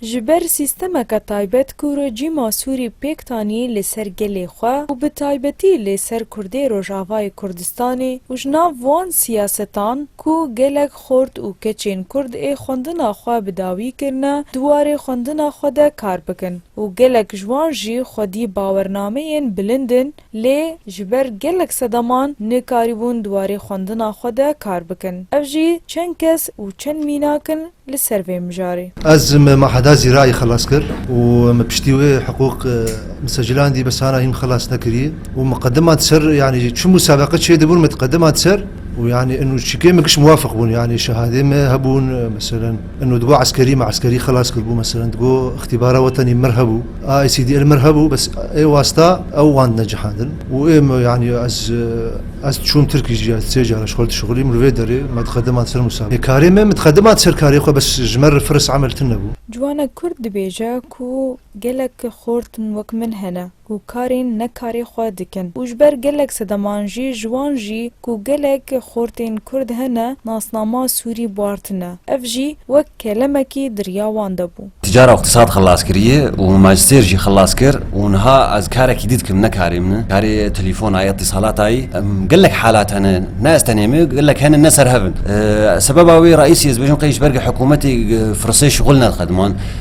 Ji ber sîstemeke taybet ku rejîma Sûrî pêk tanî li ser gelê xwe û bi taybetî li ser Kurdê Rojavayê Kurdistanê û ji nav wan siyasetan ku gelek xort û keçên Kurd ê xwendina xwe bi dawî kirine di warê xwendina xwe de kar bikin û gelek ji wan jî xwedî bawernameyên bilind in Lê ji ber gelek sedaman nekarîbûn di warê xwendina xwe de kar bikin. Ev jî çend kes û çend mînak in li ser vê mijarê. Ez me Maheda Zîrayî xelas kir û me piştî wê hiqûq me secilan dî bes hana hîn xelas nekirî û me qediman di ser yanî çi musabeqe çêdibûn me di qediman di ser û yanî û çîkê me giş muwafiq bûn yanî şehadê me hebûn meselen. Eno digo eskerî me eskerî xilas kiribû meselen digo îxtîbara we tenê mir hebû a ICD li mir hebû bes ê wasta ew wan dine cihandin û ê me yanî ez ez çûm Tirkîjî sê car ji xwe re dişixulîm li vê derê me diqediman ser Mûsa bê karê me min diqediman ser karê xwe bes ji me re firis emel tune bû. Ciwanek kurd dibêje ku gelek xortin wek min hene. ku karên nekarê xwe dikin û ji ber gelek sedeman jî ji wan jî ku gelek xortên Kurd hene nasnama Sûrî bartine. Ev jî wek kelemekî di riya wan de bû. Ti cara îqtîsad xilas kiriye û majîstêr jî xilas kir û niha ez karekî dî dikim ne karê min e. Karê telefona ye, îtîsalata ye. Gelek halat hene, ne ez tenê me, gelek hene ne serhev in. Sebeba wê reîsî ez dibêjim qey ji ber ku hikûmetê firsê şixul nedixe diman.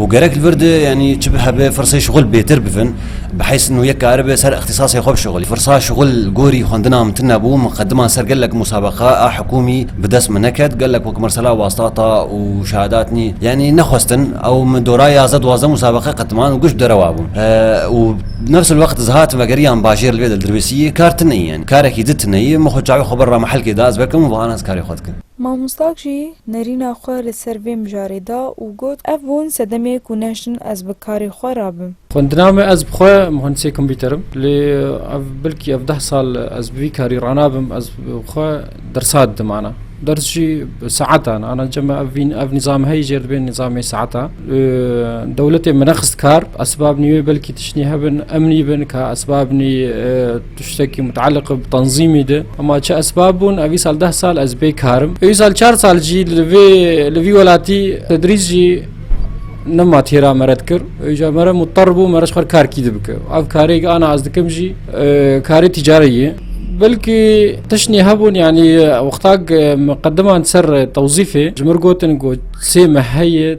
û gerek li vir de yanî çi bi hebe firsê şixul bêtir bivin bi heys nû yek karibe ser îxtîsasê xwe bişixulî. Firsa şixul li gorî xwendina min tune bû, min qedima ser gelek musabeqa a hikûmî bi dest min neket, gelek wek Mirsela Wastata û Şahadatnî yanî nexwestin ew min dora yazdeh duwazdeh musabeqe qediman û giş derewa bûn û bi nefs il wext ez hatim vegeriyan bajêr li vê de li Dirbêsiyê kar tune yî yanî karekî di tune yî min xwe çavê xwe bir ra mehelkê da ez vekim û vana ez karê xwe dikim. Mamostak jî nerîna xwe li ser vê mijarê da û got, Ev hûn sedemê ku nehştin ez bi karê xwe re bim. Xwendina me ez bi xwe muhendisê kompîter im. Lê ev bilkî ev deh sal ez bi vî karî ranabim, ez bi xwe dersat didim ana. Ders jî bi saetan ana cem e. Ev ev nîzam heyî jêr dibê nîzamê saeta. Dewletê min nexist kar, esbabnî wê belkî tiştnî hebin, emnî bin ka esbabnî Tiştekî muteleq bi tenzîmî de hema çi esbab bûn ev îsal deh sal ez bê kar im. Ew îsal çar sal jî li vê li vî welatî tedrîs jî nema têra me red kir. Ew îcar me re muter bû me re ji xwe kar kî dibike. Ev karê ana ez dikim jî karê tîcarî ye. Belkî tiştnê hebûn yanî wextak me qediman ser tewzîfê ji mir gotin ku sê me heye